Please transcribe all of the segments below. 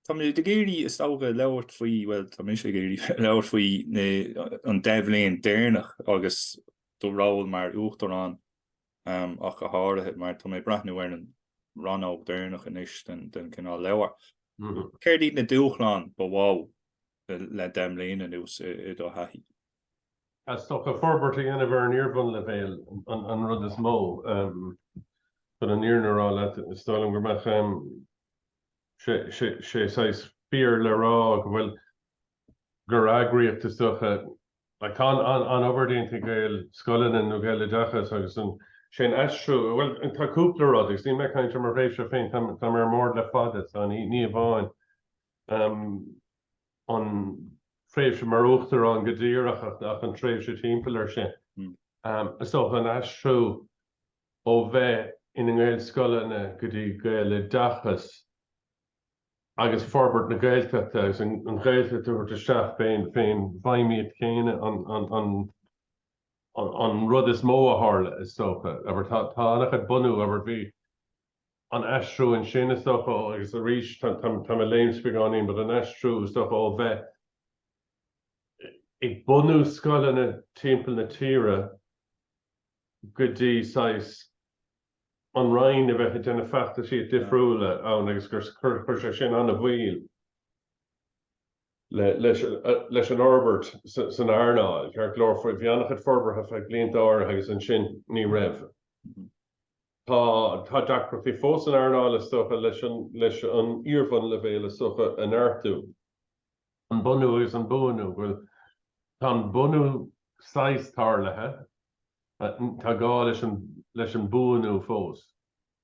Tá mé ag iarraidh, is dócha, labhairt faoi, bhuel, tá mise ag iarraidh labhairt faoi an deich mbliana deireanach agus do ról mar uachtarán ach go háirithe mar tá mé ag breathnú ar an rannóg deireanach anois den den cineál leabhar. Céard iad na dúshláin ba mhó le deich mbliana anuas i do thaithí? Is dócha forbairt a dhéanamh ar an iar-bhunleibhéal an rud is mó. Chun an fhírinne a rá leat, is dóigh liom go mbeadh. sé saghas fíor le rá go bhfuil, gur eagraíocht is dócha, like, tá an obair déanta ag Gaelscoileanna nó Gaeloideachas agus an, sé an aistriú, bhuel, tá cúpla rud, agus níl mé ag caint ar mo thréimhse féin, tá mé ar an mbord le fada, so ní hamháin an tréimhse mar uachtarán go díreach ach an tréimhse timpeall air sin, is dócha, an aistriú ó bheith ina nGaelscoileanna go dtí Gaeloideachas agus forbairt na Gaeltachta agus an Ghaeltacht a thabhairt isteach fén bhfeidhmíocht chéanna an rud is mó a tharla is dócha. Abair tá an-chuid bunú, abair bhí an aistriú ansin is dócha ó, agus arís táim ag léimt beagáinín, but an aistriú is dócha ó bheith ag bunú scoileanna timpeall na tíre, go dtí saghas an Roinn a bheith ag déanamh feachtasaí difriúla ann agus gur chuir sé sin an-mhoill leis an fhorbairt san earnáil, ceart go leor, bhí an-chuid forbartha feadh blianta áirithe agus ansin ní raibh. Tá deacrachtaí fós san earnáil, is dócha, leis an iar-bhunleibhéal is dócha a neartú. an bunú agus an buanú, go bhfuil, tá an bunú saghas tarlaithe, tá gá leis an mbuanú fós.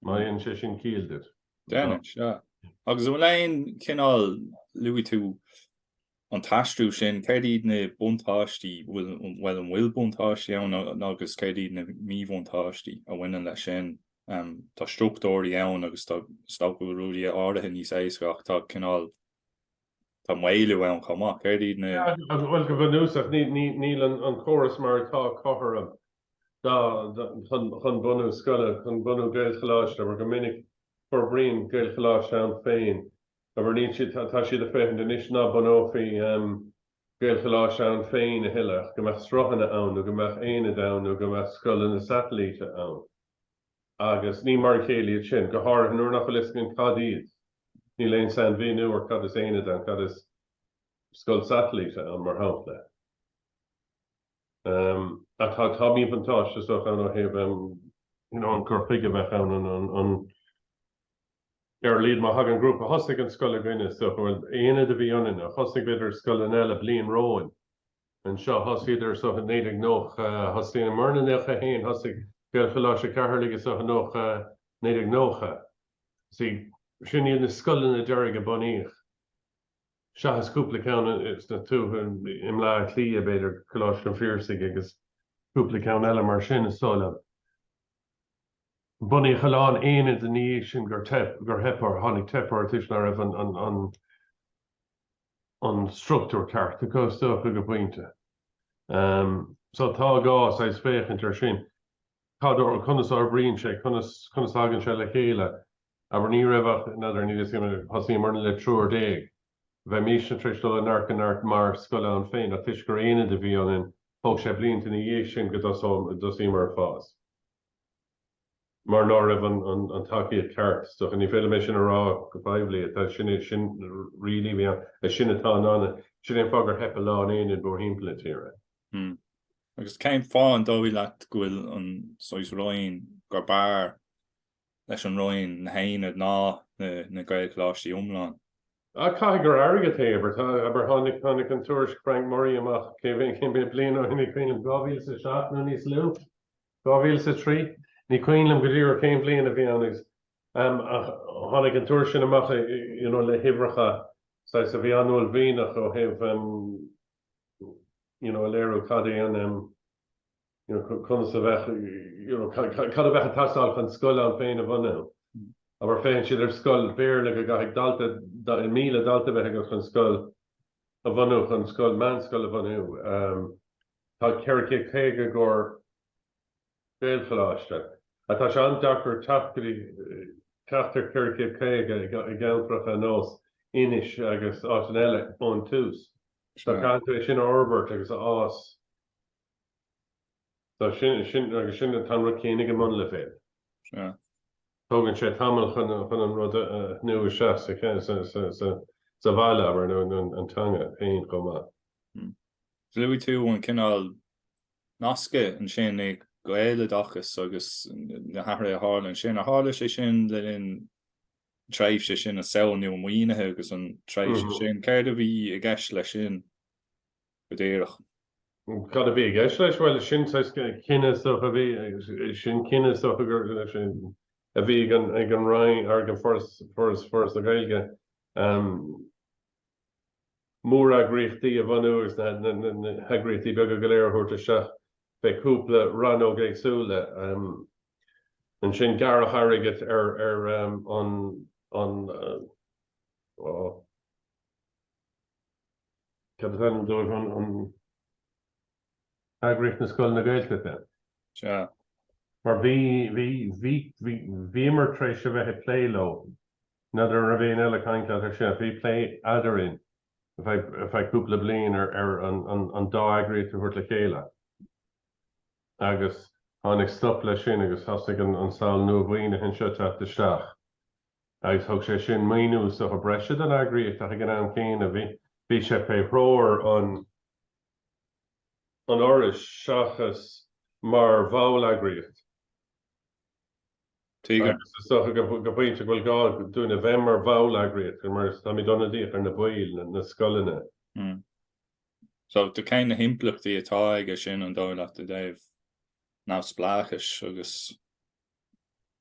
Má dhéanann sé sin ciall duit. Déanann, sea. Agus an bhfuil aon chineál, luaigh tú an t-aistriú sin, céard iad na buntáistí, bhuel, an bhfuil buntáistí ann agus céard iad na míbhuntáistí a bhaineann leis sin? Tá struchtúirí ann agus tá is dócha rudaí áirithe níos éasca ach tá cineál, Tá maolú ann chomh maith. Céard iad na. Bhuel, go bunúsach, níl an córas mar atá cothrom chun bunú scoile, chun bunú Gaelcholáiste, abair go minic forbraíonn Gaelcholáiste ann féin, abair, níl siad, tá siad ag féachaint anois ná bunófaí Gaelcholáiste ann féin a thuilleadh ach go mbeadh sruthanna ann nó go mbeadh aonaid ann nó go mbeadh scoileanna satailíte ann. Agus ní mar a chéile iad sin, go háirithe nuair nach bhfuil a fhios againn cad iad. Níl aon sainmhíniú ar cad is aonad ann, cad is scoil satailíte ann, mar shampla. Ach tá míbhuntáiste, is dócha, ann ó thaobh an cur chuige a bheadh ann, an ar a laghad má thagann grúpa, thosaigh an scoil againne, is dócha, bhuel, aonad a bhí ionainne, thosaigh, b'fhéidir, scoileanna eile bliain romhainn, anseo. Thosaíodar seo i 1990. Thosaíomarna 91. Thosaigh Gaelcholáiste Cheatharlaigh, is dócha, 90, 1990. Sea, sin iad na scoileanna deiridh a bunaíodh, seachas cúpla ceann sna tuaithe, i mBleá Cliath, b'fhéidir, Coláiste an Phiarsaigh agus cúpla ceann eile mar sin, is dóigh liom. Bunaíodh a lán aonaid ina dhiaidh sin gur theip orthu, tháinig teip orthu toisc nach raibh an, an, an struchtúr ceart acu, is dócha, go pointe. So tá gá, saghas, féachaint air sin. Cad, conas a fhorbraíonn sé, conas, conas a thagann sé le chéile? Abair, ní raibh ach, n'fheadar, ní, thosaíomarna le triúr déag. Bheimisne tar éis dul ó neart go neart mar scoil ann féin ach toisc gur aonad a bhí ionainn, thóg sé blianta ina dhiaidh sin go dtosaíomar ag fás. mar ná raibh an tacaíocht cheart, is dócha. Ní féidir liom é sin a rá go poiblí. Ach tá, sin really a bhí ann. Sin atá ann, sin é an fáth gur theip a lán aonaid mórthimpeall na tíre. Hmm. Agus cén fáth an dóigh leat go bhfuil an saghas Roinn gur b'fhearr leis an Roinn na haonaid ná na Gaelcholáistí iomlán? Ah, caithfidh gur airgead é, abair, abair, tháinig, tháinig an tuairisc Frank Murray amach cé mhéad, cé mhéad bliain ó shin, cén, 2007 nó níos lú? 2003. Ní cuimhin liom go díreach cén bhliain a bhí ann agus tháinig an tuairisc sin amach you know le huimhreacha saghas a bhí an-uaillmhianach ó thaobh you know a léiriú cad é an you know conas a bheadh you know cad a bheadh ag teastáil chun scoil ann féin a bhunú. Abair, féachann siad ar scoil Béarla go gcaithfidh daltaí, míle dalta bheith agat chun scoil a bhunú chun scoil meánscoil a bhunú. Um, Tá 450 i gcomhair Gaelcholáiste, ach tá sé an-deacair teacht go dtí ceachtar 450 i gceantracha ar nós Inis agus áiteanna eile ón tús. Tá, caithfidh tú é sin a fhorbairt agus a fhás agus sin atá an rud céanna ag an mbunleibhéal. Tógann sé tamall chun an rud a bhunú isteach sa bhaile, abair, nó an teanga féin chomh maith. Luaigh tú an cineál nasca ansin ag Gaeloideachas agus na hathruithe a tharla ansin. Ar tharla sé sin le linn an tréimhse sin, an tsamhail nua mhaoinithe agus an tréimhse sin? Céard a bhí i gceist leis sin go díreach? Cad a bhí i gceist leis? Bhuel, sin cinneadh is dócha a bhí, sin cinneadh is dócha, gurb é sin a bhí ag an Roinn, ag an Foras, Foras na Gaeilge. móreagraíochtaí a bhunú agus na heagraíochtaí beaga go léir a thabhairt isteach fé chúpla rannóg éagsúla. Ansin gearradh an t-airgead ar an cad is ainm dóibh? eagraíocht na scoileanna Gaeltachta. Sea. Mar bhí, bhí, bhí, bhí, bhíomar tar éis a bheith ag plé leo, n'fheadar an raibh éinne eile ag caint leat air sin ach bhí plé eadarainn feadh cúpla bliain ar, ar an, an, an dá eagraíocht a thabhairt le chéile agus tháinig stop leis sin agus thosaigh an, an tsamhail nua mhaoinithe ansin ag teacht isteach agus thug sé sin maoiniú is dócha breise don eagraíocht ach ag an am céanna bhí, bhí sé fé threoir an. an Fhorais seachas mar bhall-eagraíocht. Tuigim. Is dócha go pointe go bhfuil gá dúinn a bheith mar bhall-eagraíocht mar táimid ionadaíoch ar na baill, na scoileanna. So, cén na himpleachtaí atá aige sin, an dóigh leat, i dtaobh neamhspleáchais agus.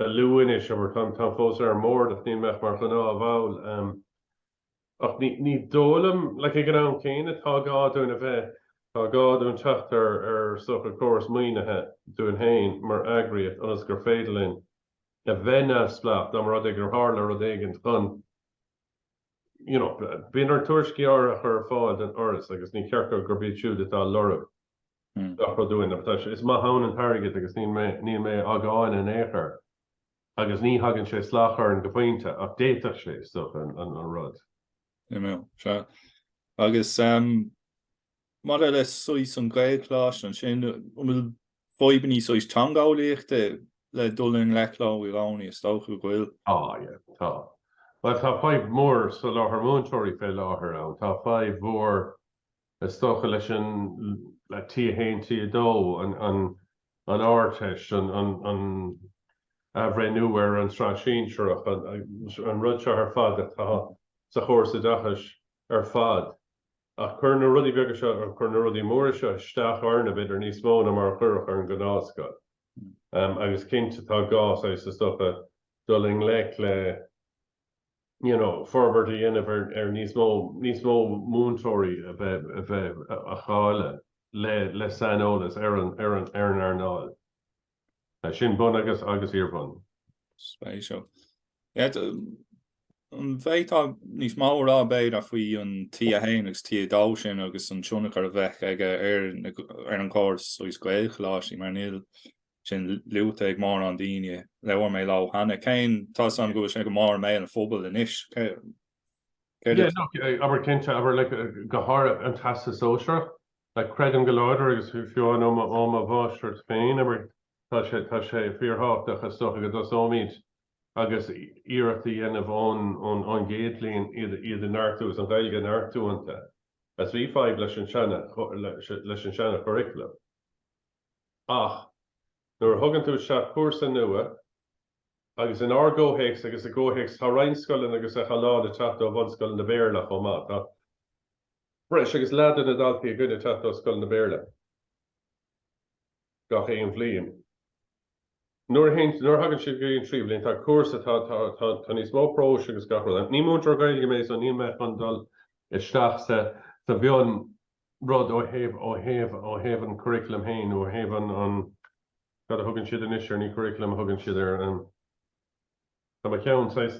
ag lú anois, táim fós ar an mbord, ach níl mé ach mar ghnáthbhall. Ach ní dóigh liom, like, ag an am céanna, tá gá dúinn a bheith, tá gá dúinn teacht ar, ar is dócha córas maoinithe dúinn féin mar eagraíocht ionas gur féidir linn a bheith neamhspleách dá mba rud é gur tharla rud éigint chun, you know, bíonn ort tuairiscí áirithe a chur ar fáil don fhoras agus ní ceart go, gurb iad siúd atá ag lorg. gach rud dúinn. Ach tá sé, is maith ann an t-airgead agus níl mé, níl mé á gcáineadh in aon chor agus ní thagann sé salach orainn go pointe ach d'fhéadfadh sé, is dócha, an rud. Aye now, sea. Agus maidir le saghas an Gaelcholáiste ansin, an bhfuil fadhbanna saghas teangeolaíochta le dul i ngleic leo i gcónaí? Is dócha go bhfuil. Tá, aye, tá. Bhuel, tá fadhb mhór soláthar múinteoirí fé láthair ann. Tá fadhb mhór Is dócha leis an T1, T2, an Ardteist, an athbhreithniú ar an tsraith shinsearach, an rud seo ar fad atá sa chóras oideachais ar fad. Ach cuireann na rudaí beaga seo, cuireann na rudaí móra seo isteach orainne, b'fhéidir, níos mó ná mar a chuirfeadh ar an ngnáthscoil. Agus cinnte tá gá, is, is dócha, dul i ngleic le. you know, forbairt a dhéanamh ar níos mó, níos mó múinteoirí a bheith, a bheith, cáilithe le, le saineolas ar an, ar an, ar an earnáil sin bun agus, agus iarbhun. Spéisiúil. An bhféadfá níos mó a rá, b'fhéidir, faoi an T1 agus T2 sin agus an tionchar a bheadh aige ar, ar an gcóras, saghas Gaelcholáistí, mar níl, sin luaite ag mórán daoine. Labhair mé leo cheana. Cé tá a fhios agam go bhfuil sé go mór i mbéal an phobail anois? Céard a. Yeah, abair cinnte, abair like go háirithe an teastas sóisearach. Like creidim go láidir agus fiú amháin ó mo ó mo mháistreacht féin, abair, tá sé tá sé fíorthábhachtach is dócha go dtosóimid agus iarracht a dhéanamh ón ón ón gcéad bhliain iad iad a neartú is an Ghaeilge a neartú iontu as bhí fadhb leis an seana leis an seana churriculum. Ach nuair a thugann tú isteach cúrsa nua, agus in ár gcomhthéacs agus i gcomhthéacs tá roinnt scoileanna agus tá a lán ag teacht ó bhunscoileanna Béarla chomh maith, tá breis agus leath de na daltaí againn ag teacht ó scoileanna Béarla gach aon bhliain. Nuair a théann, nuair a thagann siad go dtí an tríú bhliain, tá cúrsa, tá, tá, tá, tá níos mó próis agus gach rud. Ní múinteoir Gaeilge mé so níl mé chun dul isteach sa, sa mhionrud ó thaobh, ó thaobh, ó thaobh an curriculum féin nó ó thaobh an, an, cad a thugann siad anois air, ní curriculum a thugann siad air, an. Tá mo cheann, saghas,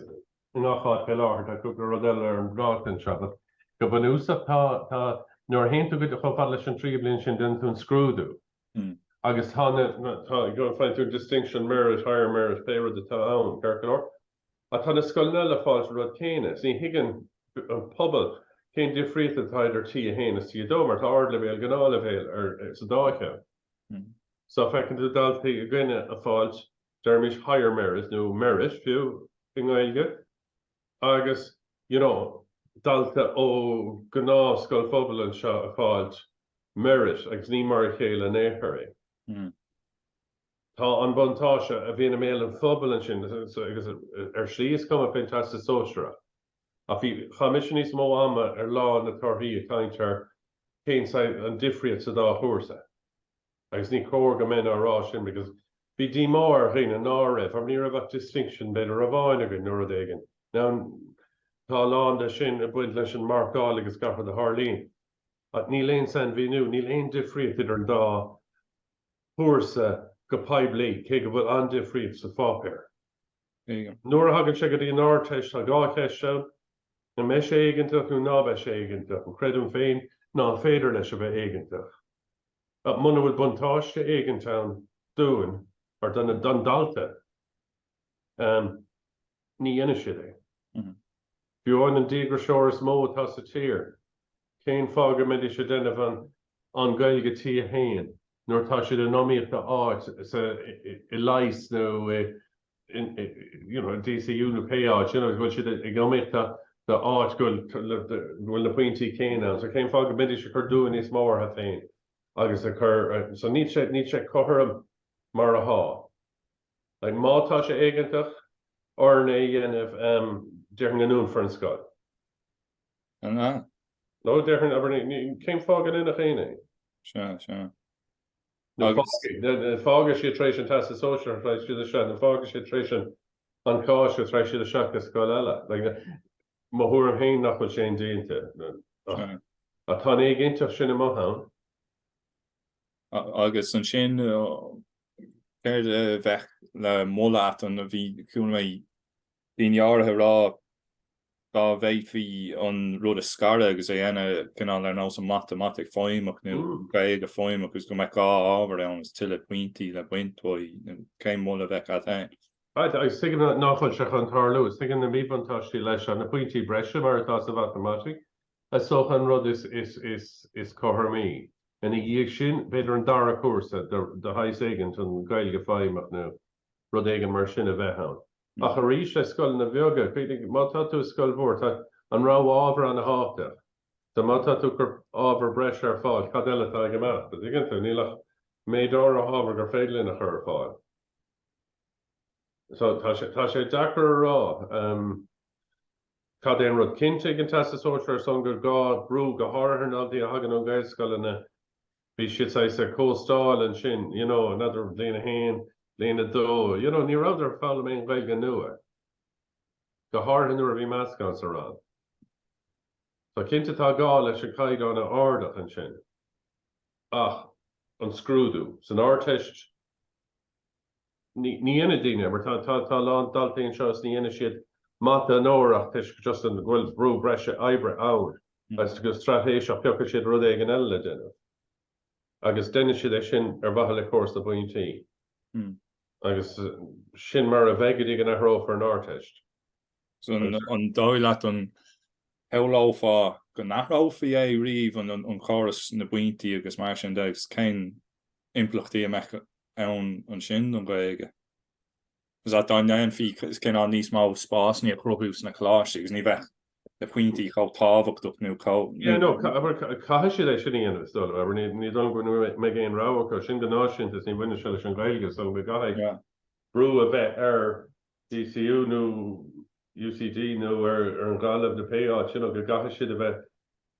i ngach áit fé láthair. Tá cúpla rud eile ar an bpláta anseo, but go bunúsach tá, tá, nuair a théann tú go dtí, chomh fada leis an tríú bliain sin, déanann tú an scrúdú. Agus tá na, tá, you know, faigheann tú distinction, merit, higher merit, pé rud atá ann, ceart go leor. Ach tá na scoileanna eile ag fáilt an rud céanna. So ní thuigeann an pobal cén difríocht atá idir T1 is T2 mar tá ardleibhéal, gnáthleibhéal ar, sa dá cheann. So feiceann tú daltaí againne ag fáilt deirimis higher merit nó merit fiú i nGaeilge, agus you know dalta ó ghnáthscoil phobail anseo ag fáilt merit agus ní mar a chéile in aon chor é. Tá an buntáiste a bhíonn i mbéal an phobail ansin agus ar shlí is cuma faoin Teastas Sóisearach ach bhí, chaith mise níos mó ama ar lá na torthaí ag caint ar cén saghas, an difríocht sa dá chúrsa. agus ní cóir go mbeinn á rá sin because bhí díomá ar dhaoine ná raibh, or ní raibh ach distinction b'fhéidir amháin againn nó rud éigin. Now tá a lán de sin ag baint leis an marcáil agus gach rud a tharlaíonn. Ach níl aon sainmhíniú, níl aon difríocht idir an dá chúrsa go poiblí, cé go bhfuil an-difríocht sa pháipéar. Nuair a thagann sé go dtí an Ardteist tá dhá cheist ann, an mbeidh sé éigeantach nó ná beidh sé éigeantach, creidim féin ná féidir leis a bheith éigeantach. Ach muna bhfuil buntáiste éigint ann dúinn, nó do na, don dalta, ní dhéanfaidh siad é. Fiú amháin an díograiseoir is mó atá sa tír, cén fáth go mbeidís ag déanamh an an Gaeilge T1 nuair atá siad in iomaíocht do áit sa i leighis nó i DCU nó pé áit a bhfuil siad in iomaíocht d'áit go bhfuil na pointí céanna ann? So cén fáth go mbeidís ag cur dua níos mó orthu féin agus ag cur, so níl sé, níl sé cothrom mar atá. Like má tá sé éigeantach orainn é a dhéanamh, déarfainn go ndúnfar an scoil. An ea? No, déarfainn, abair, cén fáth go ndéanfadh éinne é? Sea, sea. nó fágfaidh siad tar éis an teastas sóisir nó tar éis siad isteach nó fágfaidh siad tar éis an cháis nó tar éis siad isteach i scoil eile. Mo thuairim féin nach bhfuil sé indéanta ach tá an éiginnteacht sin amach ann. Agus ansin céard a bheadh le moladh agat? Bhí cúnamh ag daoine áirithe a rá, dá bhféadfaí an rud a scaradh agus é a dhéanamh cineál ar nós an mhatamaitic feidhmeach nó an Ghaeilge feidhmeach agus go mbeadh dhá ábhar ann agus tuilleadh pointí le baint uaidh, cén moladh a bheadh agat féin? Agus tuigim nach bhfuil sé chun tarlú is tuigim na míbhuntáistí leis na pointí breise, mar atá sa mhatamaitic, is dócha an rud is cothromaí. Ina dhiaidh sin, b'fhéidir an dara cúrsa de shaghas éigint, an Ghaeilge feidhmeach nó rud éigin mar sin, a bheith ann. Ach arís, le scoileanna beaga, cuimhnigh, má tá tú i scoil mhór, tá an rogha ábhar an-tábhachtach. So má tá tú ag cur ábhar breise ar fáil, cad eile atá ag imeacht, a' dtuigeann tú? Níl ach méid áirithe ábhar gur féidir linn a chur ar fáil. So tá sé, tá sé deacair a rá ehm cad é an rud. Cinnte ag an Teastas Sóisear ar son gur gá athrú, go háirithe ár ndaltaí a thagann ó Gaelscoileanna, bhí siad saghas ag cóstáil ansin, you know, in abair bliain a haon, bliain a dó, you know, ní rabhadar ag foghlaim aon Ghaeilge nua, go háirithe nuair a bhí meascán sa rang. So cinnte tá gá leis an caighdeán a ardach ansin. Ach an scrúdú, san Ardteist, ní dhéanann daoine, mar tá a lán daltaí anseo is ní dhéanann siad mata onóracha toisc just an, go bhfuil brú breise oibre ann agus go straitéiseach piocfaidh siad rud éigin eile le déanamh agus déanann siad é sin ar mhaithe le córas na bpointí agus sin mar a bheidh go dtí go n-athrófar an Ardteist. So an dóigh leat an samhlófá go n-athrófaí é riamh an córas na bpointí agus mar sin de cén impleachtaí a mbeadh ann ansin don Ghaeilge. Agus dá ndéanfaí cineál níos mó spásanna a chruthú sna coláistí agus ní bheadh na pointí chomh tábhachtach nó chomh. Yeah, no, abair, caithfidh siad é sin a dhéanamh, is dóigh liom, abair, ní dóigh liom go mbeidh aon rogha acu, sin go náisiúnta is ní bhaineann sé leis an Ghaeilge, is dóigh liom go gcaithfidh brú a bheith ar DCU nó UCD nó ar Ghaillimh nó pé áit, you know, go gcaithfidh siad a bheith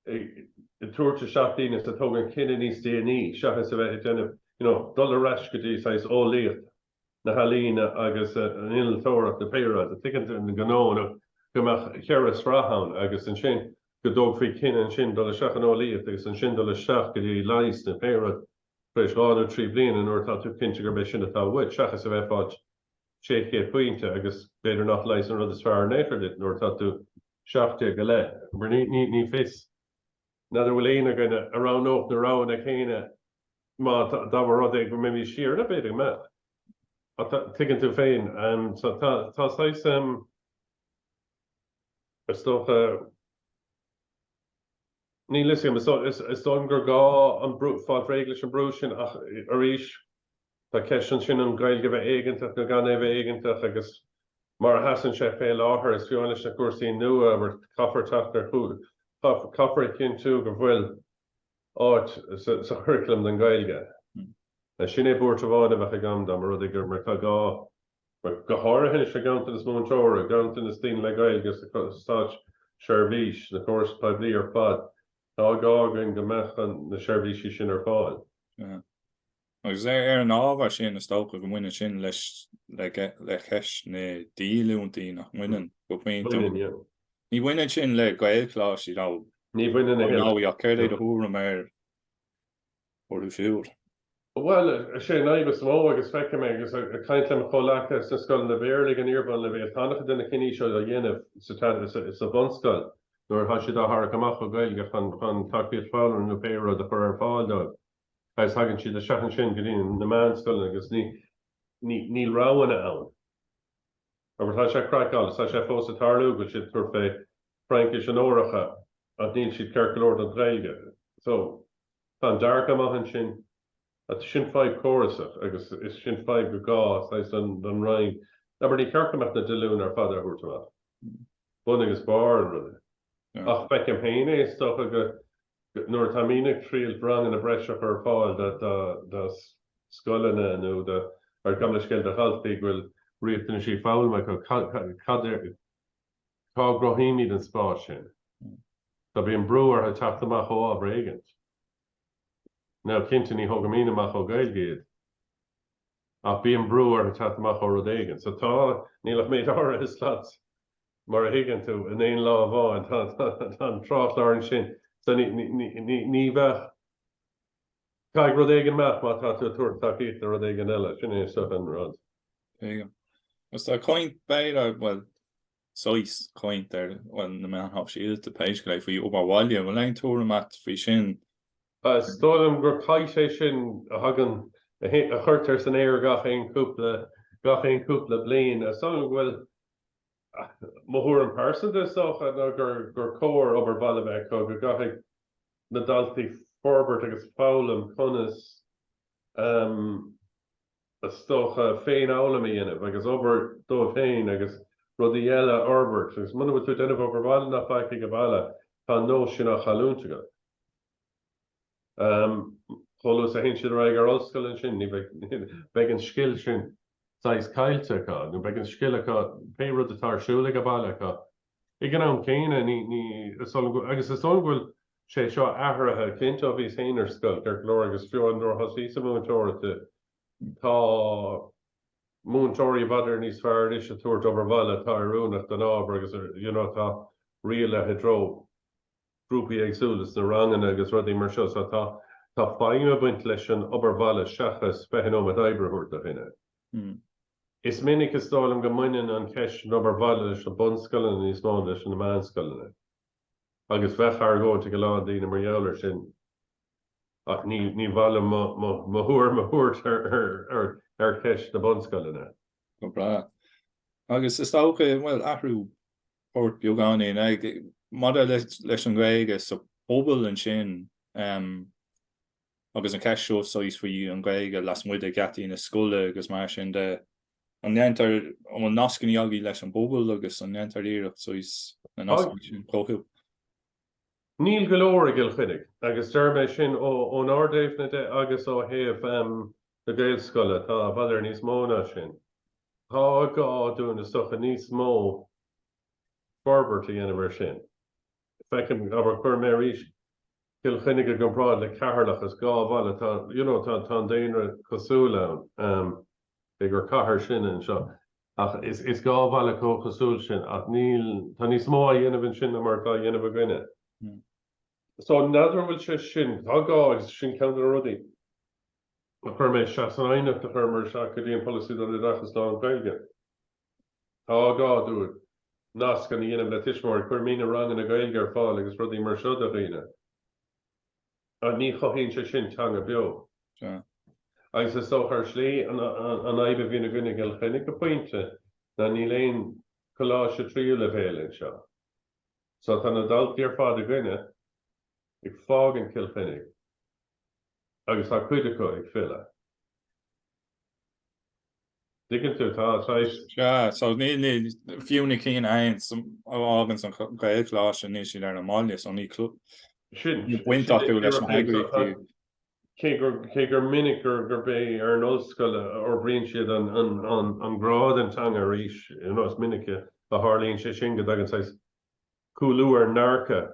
ag tabhairt isteach daoine is a thógann cinneadh níos déanaí seachas a bheith ag déanamh, you know, dul ar ais go dtí saghas eolaíocht na healaíne agus an innealtóireacht nó pé rud, tuigeann tú, an gnó nó go mbeadh cheithre shraith ann agus ansin go dtógfaí cinneadh ansin dul isteach in eolaíocht agus ansin dul isteach go dtí leigheas nó pé rud tar éis dhá nó trí bliana nuair atá tú cinnte gurb é sin atá uait seachas a bheith ag fáil 600 pointe agus b'fhéidir nach leigheas an rud is fearr in aon chor duit nuair atá tú seacht déag go leith. Mar ní fios, n'fheadar an bhfuil éinne againn a roghnódh na roghanna céanna má dá mba rud é go mbeimis siar ann b'fhéidir go mbeadh. Ach tuigeann tú féin, so tá saghas, is dócha, Níl fhios agam. Is dóigh liom gur gá an brú, fáil réidh leis an brú sin ach arís tá ceist ansin an Ghaeilge a bheith éigeantach nó gan é a bheith éigeantach agus mar a sheasann sé fé láthair. Is fiú leis na cúrsaí nua mar caithfear teacht ar chúis, caithfear a chinntiú go bhfuil áit sa churaclam don Ghaeilge. Sin é buairt amháin a bheadh agam dá mba rud é gur mar atá gá. go háirithe an ganntanas múinteoirí, ganntanas daoine le Gaeilge sa státseirbhís na córais phoiblí ar fad, tá gá againn go mbeadh na seirbhísí sin ar fáil. Agus ar an ábhar sin, is dócha go mbaineann sin leis le ceist na díolúintí, nach mbaineann, go pointe? Ní bhaineann sin le Gaelcholáistí, nó? Ní bhaineann. Ach céard é do thuairim air? orthu siúd. Bhuel, is é an fhadhb is mó, agus feicim é agus ag caint le mo chomhleacaithe sna scoileanna Béarla ag an iarbhunleibhéal, tá an-chuid de na cinní seo á dhéanamh sa bhunscoil nuair atá siad á tharrac amach ó Ghaeilge chun chun tacaíocht foghlama nó pé rud a chur ar fáil dóibh agus tagann siad isteach ansin go dtí na meánscoileanna agus ní níl roghanna ann. Abair, tá sé craiceáilte, tá sé fós ag tarlú, go bhfuil siad ag tabhairt fé Fraincis onóracha ach níl siad ceart go leor don Ghaeilge. So. Tá an dearcadh mícheart ansin. Sin fadhb córasach agus is sin fadhb go gá saghas don Roinn, abair, ní ceart go mbeadh na díolúintí ar fad á dtabhairt amach, bun agus barr an ruda. Ach feicim féin é, is dócha, go nuair atá daoine ag triailt ranganna breise a chur ar fáil do scoileanna nó do, ar gabh mo leithscéal, do dhaltaí go bhfuil riachtanaisí foghlama acu, cad é, Cá gcruthaímid an spás sin? Tá, bíonn brú orthu teacht amach ó ábhar éigint. Now, cinnte, ní thógaimid amach ó Gaeilge iad. Ach bíonn brú orthu teacht amach ó rud éigint. So tá, níl ach méid áirithe slot, mar a thuigeann tú, in aon lá amháin. Tá an tráthchlár ansin. So ní bheadh. Caithfidh rud éigin imeacht má tá tú ag tabhairt tacaíocht do rud éigin eile, sin é is dócha an rud. Agus tá caint, b'fhéidir, bhuel, saghas caint ar, bhuel, na meáin shóisialta, pé scéal é, faoi obair bhaile. An bhfuil aon tuairim agat faoi sin? Is dóigh liom gur caint é sin a thagann, a chuirtear san aer gach aon chúpla, gach aon chúpla bliain. Is dóigh liom go bhfuil, mo thuairim pearsanta is dócha, ná gur, gur cóir obair bhaile a bheith acu, go gcaithfidh na daltaí forbairt agus foghlaim conas is dócha féinfhoghlaim a dhéanamh agus obair dóibh féin agus rudaí eile a fhorbairt agus muna bhfuil tú ag déanamh obair bhaile ná faic ag baile tá an nós sin á chailliúint agat. Chomh luath is a théann siad ar aghaidh ar ollscoil ansin ní bheidh an scil sin saghas caillte acu nó beidh an scil acu pé rud atá ar siúl ag baile acu Ag an am céanna, ní, ní, is dóigh liom, agus is dóigh liom go bhfuil sé seo athraithe, cinnte ó bhíos féin ar scoil, ceart go leor, agus fiú ó nuair a thosaíos ag múinteoireacht, tá múinteoirí b'fhéidir níos fearr anois ag tabhairt obair bhaile atá oiriúnach don ábhar agus, you know, tá dírithe i dtreo grúpaí éagsúla sna ranganna agus rudaí mar seo, so tá, tá feidhm ag baint leis an obair bhaile seachas fiche nóiméad oibre a thabhairt do dhuine. Is minic, is dóigh liom, go mbaineann an cheist an obair bhaile leis na bunscoileanna níos mó ná leis na meánscoileanna, agus bheadh argóint ag a lán daoine mar gheall air sin, ach ní mhaith liom mo thuairim a thabhairt ar cheist na bunscoileanna. Go breá. Agus is dócha, bhuel, athrú poirt beagáinín, maidir leis an nGaeilge sa phobal ansin, agus an cheist seo saghas faoi an Ghaeilge lasmuigh de gheataí na scoile agus mar sin de, an ndéantar, an bhfuil nascanna agaí leis an bpobal agus an ndéantar iarracht saghas na nascanna sin a chothú? Níl go leor i gCill Chainnigh, agus deir mé sin ón ardaidhm de agus ó thaobh na Gaelscoile, tá b'fhéidir níos mó ná sin. Tá gá dúinn is dócha níos mó forbairt a dhéanamh ar sin. Feicim, abair, cuir mé arís Cill Chainnigh i gcomparáid le Ceatharlach, is dhá bhaile, tá, you know, tá, tá an daonra cosúil ann, ehm, cé gur cathair sinn anseo, ach is, is dhá bhaile chomh cosúil sin, ach níl, tá níos mó á dhéanamh ansin ná mar atá á dhéanamh againne. So, n'fheadar an bhfuil sé sin, tá gá, agus sin ceann de na rudaí a chuir mé isteach san aighneacht a chuir mé isteach go dtí an Polasaí don Oideachas Lán-Ghaeilge. Tá gá dúinn nascanna a dhéanamh le tuismitheoirí, cuirimidne ranganna Gaeilge ar fáil agus rudaí mar seo do dhaoine. Ach ní chothaíonn sé sin teanga beo. Agus is dócha, ar shlí, an fhadhb a bhíonn againne i gCill Chainnigh go pointe ná níl aon choláiste tríú leibhéal anseo. So tá na daltaí ar fad againne ag fágaint Chill Chainnigh agus tá cuid acu ag filleadh. Tuigeann tú, tá saghas. Sea, so ní, ní, fiú na cinn aon a fháganns an Ghaelcholáiste níl siad ar an mbaile so ní clú Sin, ní baint acu leis na heagraíochtaí. Cé gur, cé gur minic gur, gurb é ar an ollscoil a fhorbraíonn siad an, an, an, an grá don teanga arís, you know, is minic a tharlaíonn sé sin go dtagann saghas cúlú ar an ndearcadh.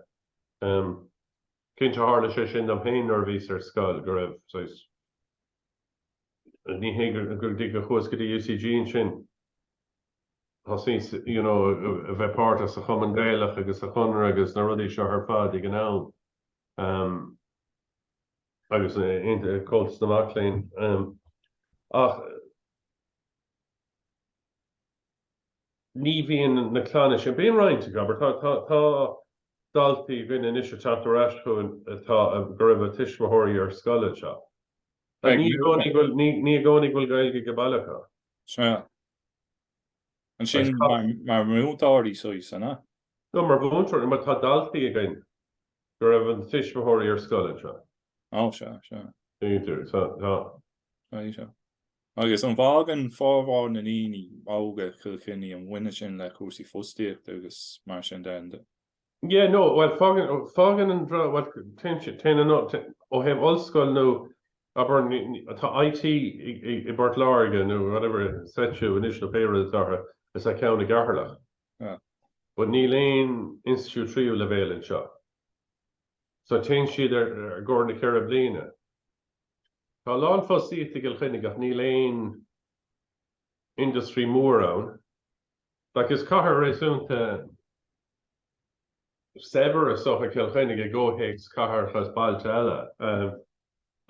Cinnte tharla sé sin dom féin nuair a bhíos ar scoil go raibh saghas, ní hé go dtí gur chuas go dtí UCG ansin thosaíos you know a bheith páirteach sa Chumann Gaelach agus sa Chonradh agus na rudaí seo ar fad ag an am um, agus eh, Comhaltas na Mac Léinn um, ach ní bhíonn na clanna sin. Bíonn roinnt acu, abair. Tá daltaí againn anois ag teacht ar ais chugainn atá go raibh a dtuismitheoirí ar scoil anseo. Ní i gcónaí go bhfuil Gaeilge ag baile acu. Sea. Ansin mar mhúinteoirí suas, an ea? No, mar mhúinteoirí, mar tá daltaí againn go raibh a dtuismitheoirí ar scoil anseo. Ó, sea, sea. B'fhéidir, tá. B'fhéidir. Agus an bhfágann formhór na ndaoine óga Cill Chainnigh, an mbaineann sin le cúrsaí fostaíochta agus mar sin de? Yeah, no, bhuel, fágann, fágann an, bhuel, téann sé, téann an, ó thaobh ollscoil nó, abair, tá IT i bPort Láirge nó whatever, SETU anois nó pé rud atá orthu, is tá ceann i gCeatharlach. Yeah. But níl aon institiúid tríú leibhéal anseo. So téann siad ar, ar gcomhair na ceithre bliana. Tá a lán fostaíochta i gCill Chainnigh ach níl aon industry mór ann. Like is cathair réasúnta saibhir is dócha, Cill Chainnigh i gcomhthéacs cathracha is bailte eile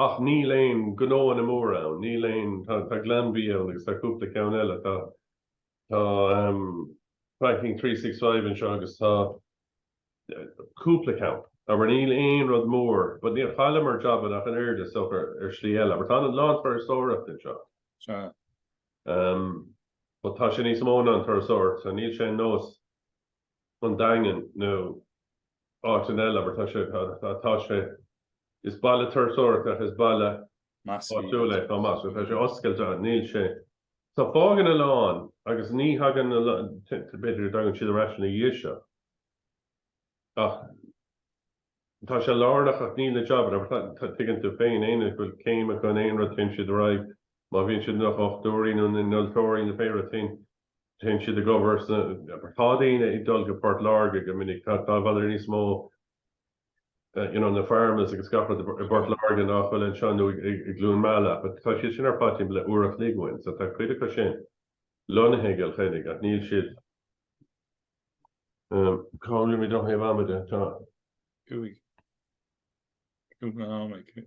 ach níl aon gnóanna móra ann, níl aon, tá Glanbia ann agus tá cúpla ceann eile, tá. Tá Banking 365 anseo agus tá cúpla ceann, abair. Níl aon rud mór, but níor chailleamar jabanna ach an oiread, is dócha, ar shlí eile, abair. Tá a lán turasóireacht anseo. Sea. But tá sé níos mó ná an turasóireacht, sea. Níl sé ar nós an Daingean nó áiteanna eile, abair. Tá sé, tá sé, is baile turasóireachta ach is baile áitiúil é chomh maith. So tá sé oscailte, níl sé, Tá, fágann a lán agus ní thagann a lán, b'fhéidir go dtagann siad ar ais ina dhiaidh seo ach tá sé lárnach ach níl na jabanna, tuigeann tú féin, éinne go bhfuil céim acu in aon rud téann siad ar aghaidh, má bhíonn siad ina ndochtúirí nó ina n-innealtóirí nó pé rud téann téann siad ag obair sna, tá daoine ag dul go Port Láirge go minic, tá b'fhéidir níos mó, you know, na pharmas agus gach rud i bPort Láirge nach bhfuil anseo nó i gCluain Meala but tá siad sin ar commute le uair a chloig uainn so tá cuid acu sin lonnaithe i gCill Chainnigh ach níl siad um, caillimid ó thaobh ama de, tá. Cúig. Cúig na hamaigh.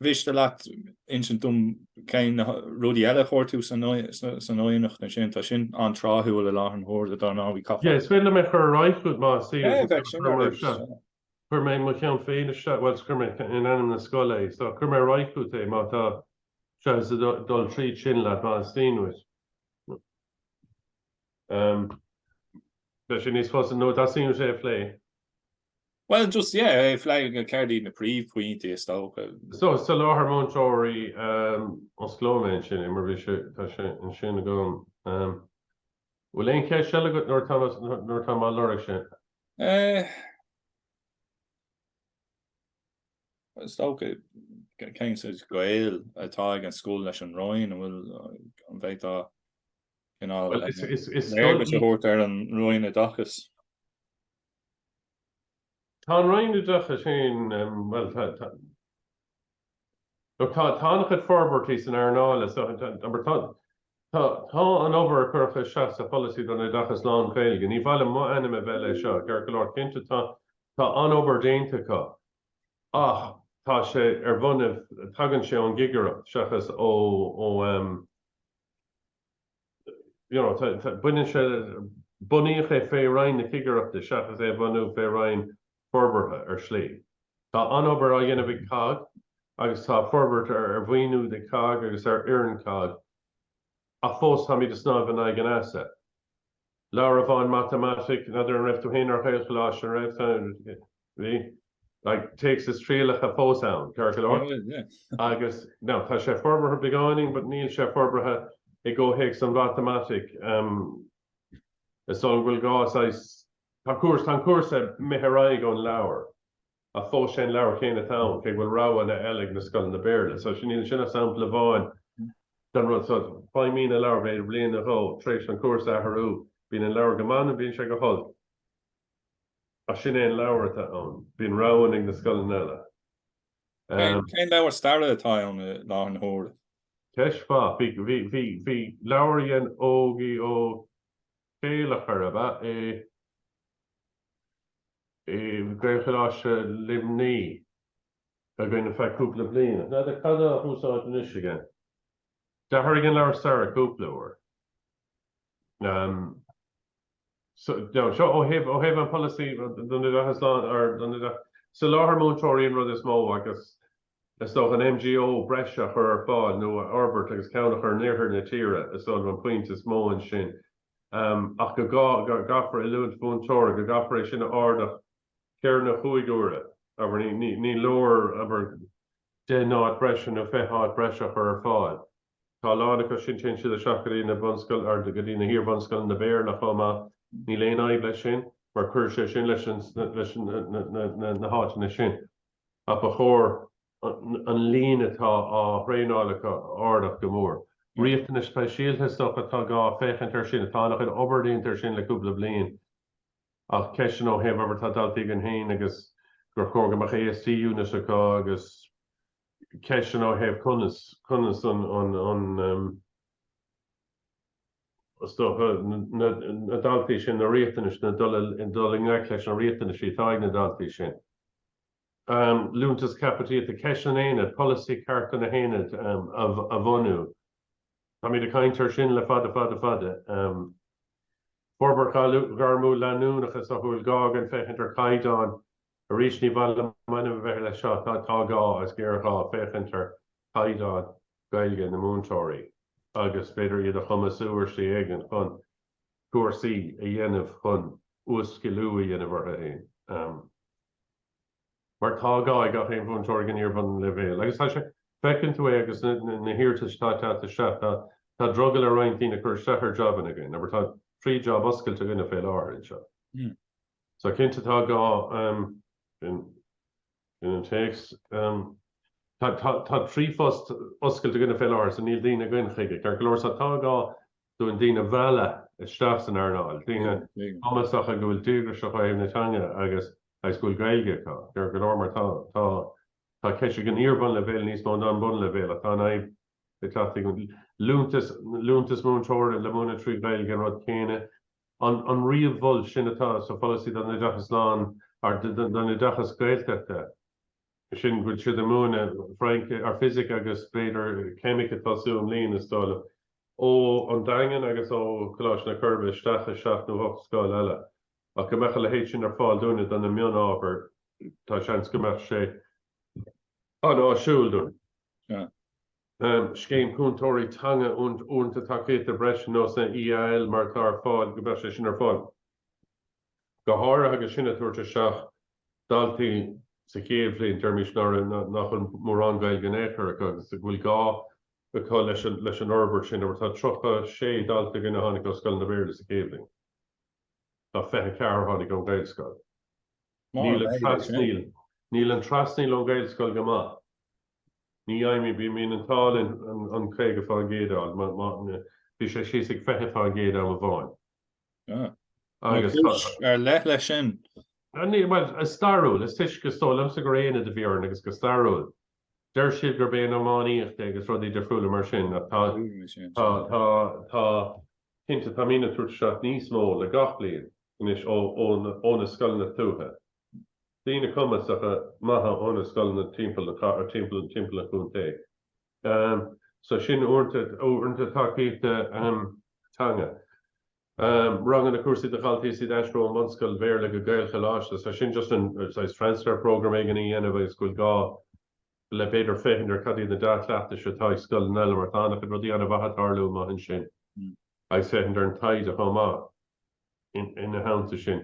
An miste leat insint dom cén rudaí eile a chuir tú san aighneacht ansin, tá sin an-tráthúil i leith an taighde atá ar bun agam, caithfear. Yes, is féidir liom é chur ar aghaidh chugat más áil. Bheadh sin ar aghaidh seo. Chuir mé mo cheann féin isteach, bhuel is chuir mé in ainm na scoile é, so chuir mé ar aghaidh chugat é má tá seo is a dul tríd sin leat má is fíon dhuit. Bheadh sé níos fusa nó dá suíonn sé a phlé. Bhuel, just, yeah, a léamh go céard iad na príomhphointí is dócha. So, soláthar múinteoirí, osclóidh mé ansin é, mar bhí sé, tá sé anseo agam. Bhfuil aon cheist eile agat nuair atá, nuair atá mé á lorg sin? Eh, is dócha, cén saghas gaol atá ag an scoil leis an Roinn, an bhfuil, an bhféadfá cineál léargas a thabhairt ar an Roinn Oideachais? Tá an Roinn Oideachais féin, bhuel, tá an-chuid forbairtí san earnáil, is dócha, abair, tá an obair a cuireadh isteach sa Pholasaí don Oideachas Lán-Ghaeilge, ní bhainim m'ainm a bheith leis seo, ceart go leor, cinnte, tá an-obair déanta acu, ach tá sé ar bhonn, tagann sé ón gcigireacht seachas ó, you know, baineann sé bunaíodh é fé roinn na cigireachta seachas é a bhunú fé roinn forbartha ar shlí. Tá an-obair á dhéanamh ag cogg agus tá forbairt ar ar mhaoiniú do cogg agus ar fhoireann cogg ach fós táimid ag snámh in aghaidh an easa. Leabhar amháin matamaitic, n'fheadar an raibh tú féin ar Ghaelcholáiste, an raibh? Bhí, like, téacs is trialacha fós ann, ceart go leor, agus now tá sé forbartha beagáinín, but níl sé forbartha i gcomhthéacs sa mhatamaitic. Is dóigh go bhfuil gá saghas, tá cúrsa, tá an cúrsa imithe ar aghaidh ón leabhar ach fós sé an leabhar céanna atá ann, cé go bhfuil roghanna eile ag na scoileanna Béarla. So sin, sin an sampla amháin den rud. So feidhmíonn an leabhar b'fhéidir bliain nó dhó, tar éis don chúrsa athrú, bíonn an leabhar go maith nó bíonn sé go holc. Ach sin é an leabhar atá ann. Bíonn rogha ag na scoileanna eile. Cén leabhar staire atá ann i láthair na huaire? Ceist mhaith. Bhí leabhar a dhein Ógaí Ó Céilleachair, ab ea é, i Gaelcholáiste Luimnigh againn ar feadh cúpla bliain. Ach n'fheadar cad tá á úsáid anois againn. D'athraigh an leabhar staire cúpla uair. seo ó thaobh an pholasaí don oideachas lán-Ghaeilge. Soláthar múinteoirí an rud is mó agus is dócha an MGO breise a chur ar fáil nó a fhorbairt agus ceann a chur in iarthar na tíre is dócha an pointe is mó ansin ach go gcaithfear oiliúint múinteoirí, go gcaithfear é sin a ardach ceithre nó cúig huaire. Abair ní leor, abair, deich n-áit breise nó fiche áit breise a chur ar fáil. Tá a lán acu sin téann siad isteach go dtí na bunscoil, go dtí na hiarbhunscoileanna Béarla chomh maith. Níl aon fhadhb leis sin mar cuirfidh sé sin leis na háiteanna sin. Ach ba chóir an líon atá á thraenáil acu a ardach go mór. Riachtanais speisialta is dócha atá gá féachaint air sin. Tá an-chuid obair déanta air sin le cúpla bliain. Ach ceisteanna ó thaobh abair tá daltaí againn féin agus gur chóir go mbeadh ASD unit acu agus. ceisteanna ó thaobh conas, conas an, is dócha, na daltaí sin, na riachtanais, na, dul i ngleic leis na riachtanais atá ag na daltaí sin. Liúntas caipitlíochta, ceist an aonaid, polasaí ceart ar na haonaid a bhunú. Táimid ag caint air sin le fada, fada, fada. Forbairt ghairmiúil leanúnach is an bhfuil gá againn féachaint ar chaighdeán Arís, ní mhaith liom m'ainm a bheith leis seo, tá gá, agus géarghá, féachaint ar chaighdeán Gaeilge na múinteoirí agus b'fhéidir iad a chumasú ar shlí éigin chun cúrsaí a dhéanamh chun uas-sciliú a dhéanamh orthu féin. Mar tá gá ag gach aon mhúinteoir ag an iarbhunleibhéal. Agus tá sé, feiceann tú é agus na hiarratais atá ag teacht isteach, tá drogall ar roinnt daoine cur isteach ar jabanna againn, abair tá trí jab oscailte againne fé láthair anseo. So, cinnte tá gá in an téacs. Tá trí phost oscailte againne fé láthair so níl daoine againn chuige, ceart go leor, so tá gá dúinn daoine a mhealladh isteach san earnáil, daoine cumasacha go bhfuil díograis acu ó thaobh na teanga agus agus go bhfuil Gaeilge acu, ceart go leor, mar tá tá tá ceist ag an iarbhunleibhéal níos mó ná an bunleibhéal ach tá an fhadhb ag teacht ag an. Liúntas múinteora le múineadh trí Ghaeilge an rud céanna, an ríomh-Mhol sin atá sa Pholasaí don Oideachas Lán nó don Oideachas Gaeltachta, sin go bhfuil siad ag múineadh Frainc ar, Fisic agus b'fhéidir Ceimic ag tosú i mbliana, is dóigh liom, ó an Daingean agus ó Coláiste na Coiribe isteach i seacht nó hocht scoil eile. Ach go mbeadh a leithéid sin ar fáil dúinne do na mion-ábhair, tá seans go mbeadh sé an-áisiúil dúinn. Scéim Cúntóirí Teanga Uaireanta Tacaíochta Breise ar nós an EAL mar atá ar fáil, go mbeadh sé sin ar fáil go háirithe agus sinn ag tabhairt isteach daltaí sa chéad bhliain, deirimis nach bhfuil mórán Gaeilge in aon chor acu agus go bhfuil gá acu leis an fhorbairt sin, mar tá 36 dalta againn a tháinig ó scoileanna Béarla sa chéad bhliain tá 24 a tháinig ón Ghaelscoil. Níl an trasnaíl ón Ghaelscoil go maith. Níl, I mean, bíonn muid ag fáil an 50% ann, má, má, bhí sé síos ag 20% am amháin. Ah. Agus tá. Cúis ar leith leis sin. Ah, ní, bhuel, is stairiúil, is toisc, is dóigh liomsa gur aonad a bhí orainn agus go stairiúil. Deir siad gurb é an iománaíocht é agus rudaí difriúla mar sin, ach tá, tá, tá, tá, cinnte, tá muidne ag tabhairt isteach níos mó le gach bliain anois ó, ó, ó na scoileanna tuaithe. daoine cumasacha maithe ó na scoileanna timpeall na cathrach, timpeall, timpeall an chontae. So sin uaireanta, uaireanta tacaíochta teanga. Ranganna, cúrsaí do dhaltaí is iad ag aistriú ón mbunscoil Bhéarla go Gaelcholáiste. So sin just an saghas transfer program éigin a dhéanamh agus go bhfuil gá le b'fhéidir féachaint ar cad iad na dea-chleachtais atá ag scoileanna eile mar tá an-chuid rudaí an-mhaith ag tarlú amuigh ansin. Agus féachaint ar an taighde chomh maith. Ina theannta sin,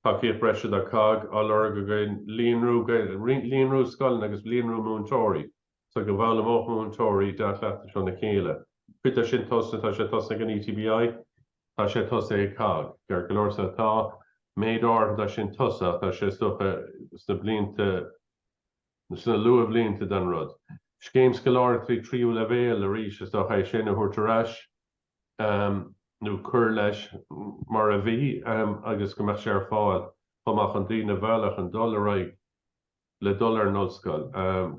tacaíocht bhreise do cogg á lorg againn, líonrú scoileanna agus líonrú múinteoirí so go bhfoghlaimeodh múinteoirí dea-chleachtais óna chéile. Cuid de sin tosaithe, tá sé tosaithe ag an ETBI, tá sé tosaithe ag cogg, ceart go leor, sea, tá méid áirithe de sin tosaithe ach tá sé, is dócha, sna blianta, sna luathbhlianta den rud. Scéim scoláireachtaí tríú leibhéal, arís, is dócha, é sin a thabhairt ar ais. nó cuir leis mar a bhí, agus go mbeadh sé ar fáil chomh maith chun daoine a mhealladh chun dul ar aghaidh le dul ar an ollscoil.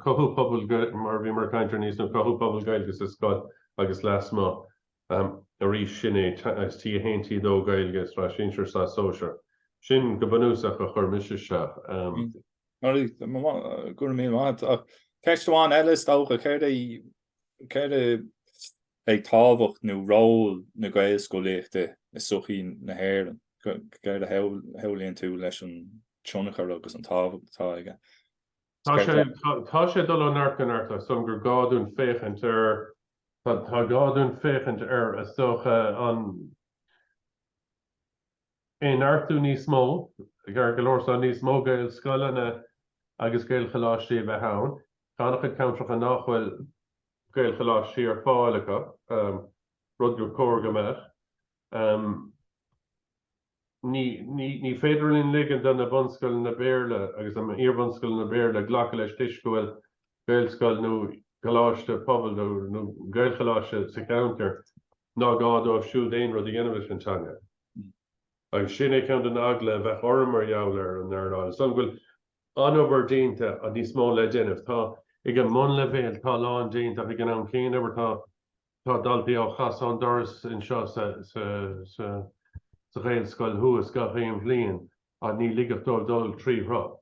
Cothú pobail mar a bhíomar ag caint arís nó cothú pobail Gaeilge sa scoil agus lasmuigh arís, sin é agus T1, T2 Gaeilge sa tsraith shinsir sa sóisear. Sin go bunúsach a chuir mise isteach. Go raibh míle maith. Ceist amháin eile is dócha, céard é, céard é, Ag tábhacht nó ról na Gaelscolaíochta i sochaí na hÉireann, céard a shamhlaíonn tú leis an tionchar agus an tábhacht atá aici? Tá sé ag dul ó neart go neart ar son gur gá dúinn féachaint ar, tá gá dúinn féachaint ar, is dócha, a neartú níos mó, ceart go leor so níos mó Gaelscoileanna agus Gaelcholáistí a bheith ann, tá an-chuid ceantracha nach bhfuil, Gaelcholáistí ar fáil acu, rud gur chóir go mbeadh. Ní féidir linn ligean do na bunscoileanna Béarla agus na hiarbhunscoileanna Béarla glacadh leis toisc go bhfuil Gaelscoil nó Coláiste Pobail nó Gaelcholáiste sa cheantar, ná gá dóibh siúd aon rud a dhéanamh leis an teanga. Agus sin é ceann den eagla a bheadh orm mar gheall ar an earnáil. Is dóigh liom go bhfuil an-obair déanta agus níos mó le déanamh. Tá ag an mbunleibhéal, tá a lán déanta ach ag an am céanna, abair tá tá daltaí á gcasadh ón doras anseo sa sa sa sa Ghaelscoil thuas gach aon bhliain agus ní ligeadh dóibh dul trí shruth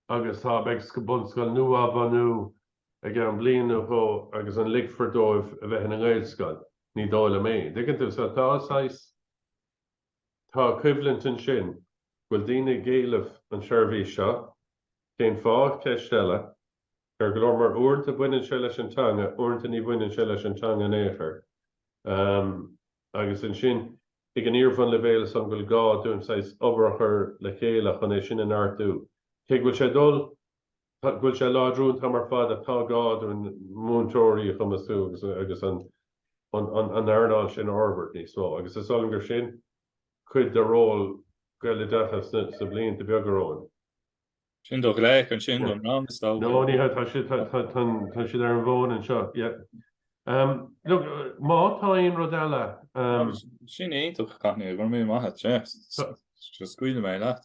agus tá beidh bunscoil nua á bhunú i gceann bliain nó dhó agus an ligfear dóibh a bheith ina nGaelscoil? Ní dóigh liom é. An dtuigeann tú? So tá saghas. Tá coimhlint ansin. Bhfuil daoine ag éileamh an seirbhís seo? Cén fáth? Ceist eile. Ceart go leor mar uaireanta baineann sé leis an teanga, uaireanta ní bhaineann sé leis an teanga in aon chor. Agus ansin ag an iarbhunleibhéal ansan bhfuil gá dúinn saghas oibriú le chéile chun é sin a neartú? Cé go bhfuil sé ag dul Go bhfuil sé ag láidriú an t-am ar fad tá gá dúinn múinteoirí a chumasú agus an earnáil sin a fhorbairt níos mó agus is dóigh liom gur sin cuid de ról Gaeloideachas sna blianta beaga romhainn. Sin do ghlac ansin don rang is dócha. No ní hea, tá siad ar an bhfón anseo. Look, má tá aon rud eile. Sin iontach, Caithníl, go raibh míle maith agat. Scaoilfidh mé leat.